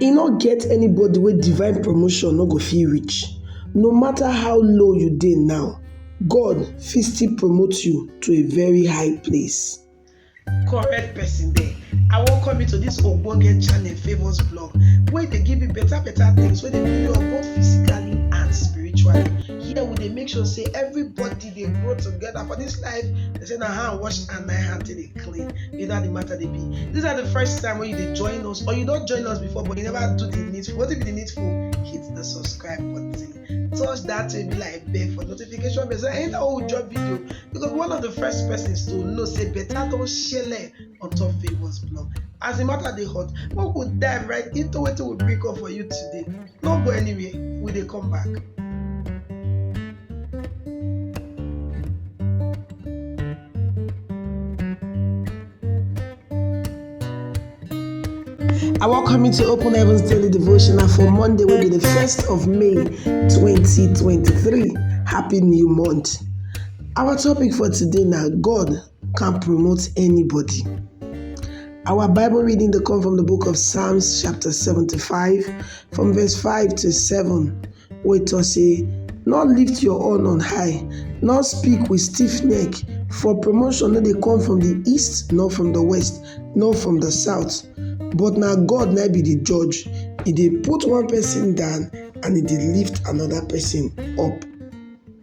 E no get anybody wey divine promotion no go fit reach. No matter how low you dey now, God fit still promote you to a very high place. correct person there i welcome you to this ogbonge channel favours blog wey dey give you better better things wey dey build you up both physically and spiritually here we dey make sure say everybody dey grow together for this life they say na hand wash and na hand take dey clean you know how the matter dey be this na the first time wey you dey join us or you don join us before but you never do the needful wetin be the needful hit the subscribe button touch that baby like bell for notification bell so anytime wey we drop video you go be one of the first persons to know say better don shele on top favours blog as the matter dey hot make we dive right into wetin we bring come for you today no go anywhere we dey come back. I welcome you to Open Heavens Daily Devotional for Monday, will be the 1st of May 2023. Happy New Month. Our topic for today now God can promote anybody. Our Bible reading dey come from the book of Psalms chapter 75 from verse 5 to 7 wey talk say, Nor lift your horn on high, nor speak with stiff neck, for promotion no dey come from the east, nor from the west, nor from the south. But na God na be the judge. He dey put one person down and he dey lift another person up.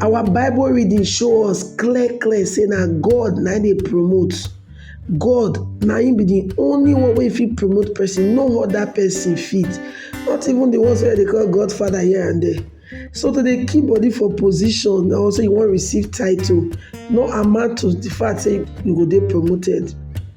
Our Bible reading show us clear clear say na God na dey promote. God na him be the only one wey fit promote person, no other person fit. Not even the ones wey they call Godfather here and there. So to dey keep body for position or say you wan receive title no amount to the fact say you go dey promoted.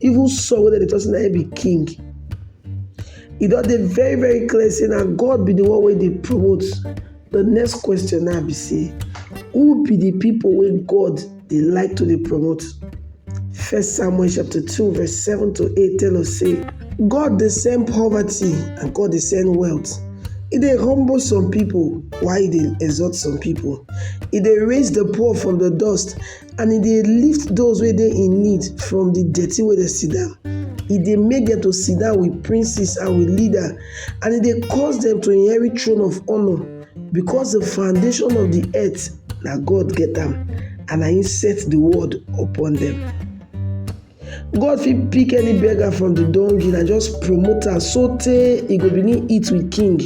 even saul wey dem dey talk say na him be king e don dey very very clear say na god be the one wey dey promote the next question now be say who be the people wey god dey like to dey promote first samuel chapter two verse seven to eight tell us say god dey send poverty and god dey send wealth e dey humble some people while e dey exalt some people e dey raise the poor from the dust And e dey lift those wey dey in need from the dirty wey dem sit down. E dey make dem to sit down with princes and with leaders, and e dey cause dem to inherit throne of honour, because the foundation of the earth na God get am, and na him set the world upon them. God fit pick any beggar from the dungeon and just promote am sotey e go begin eat with king.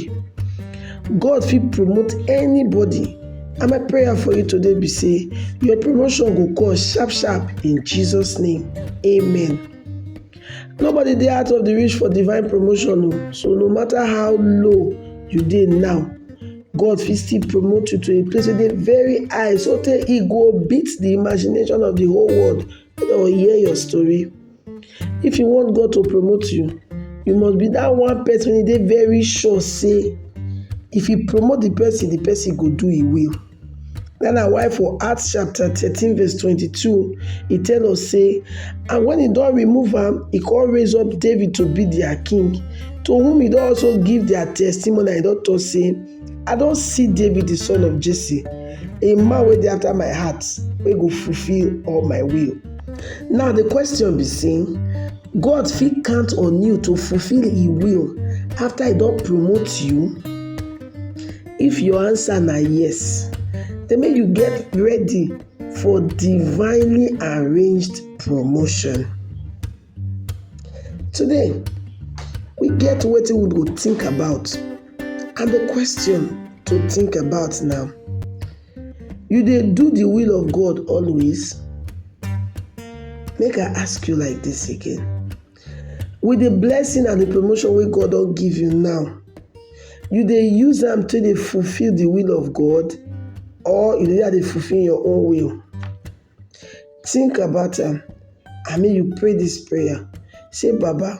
God fit promote anybody and my prayer for you today be say your promotion go come sharp sharp in Jesus name amen. Nobody dey out of the reach for divine promotion o so no matter how low you dey now God fit still promote you to a place wey dey very high sotey e go beat the imagination of the whole world or hear your story. If you want God to promote you, you must be that one person wey dey very sure say if you promote the person, the person go do e will. That na why for Acts chapter thirteen verse twenty-two, e tell us say, and when he don remove am, he come raise up David to be their king, to whom he don also give their testimony and he don talk say, I don see David the son of Jesse, a man wey dey after my heart, wey go fulfill all my will. Now the question be say, God fit count on you to fulfill He will after He don promote you? If your answer na yes, then make you get ready for divinely arranged promotion. Today, we get wetin we go think about and the question to think about now. You dey do the will of God always? Make I ask you like this again. With the blessing and the promotion wey God don give you now, you dey use am take dey fulfill the will of God or you dey dey fulfill your own will? Tink about am and make you pray dis prayer sey baba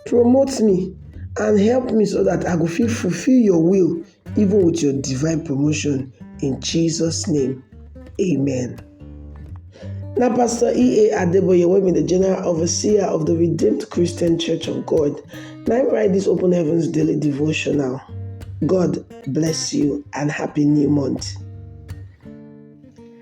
promote me and help me so dat I go fit fulfill your will even with your divine promotion in Jesus name amen. Na Pastor EA Adeboye wey be di General Overseer of di Redeemed Christian Church of God na im write dis Open Heavens Daily Devotional. God bless you and happy new month.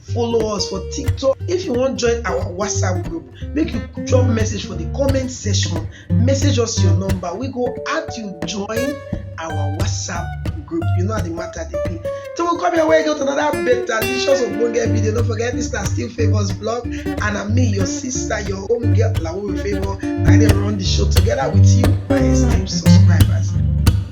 follow us for tiktok if you wan join our whatsapp group make you drop message for the comment section message us your number we go add you join our whatsapp group you know how the matter dey be till we come your way go to another better delicious ogbonge video no forget this na still favours blog and na me your sister your home girl lawo favour i dey run the show together with you my esteemed subscribers.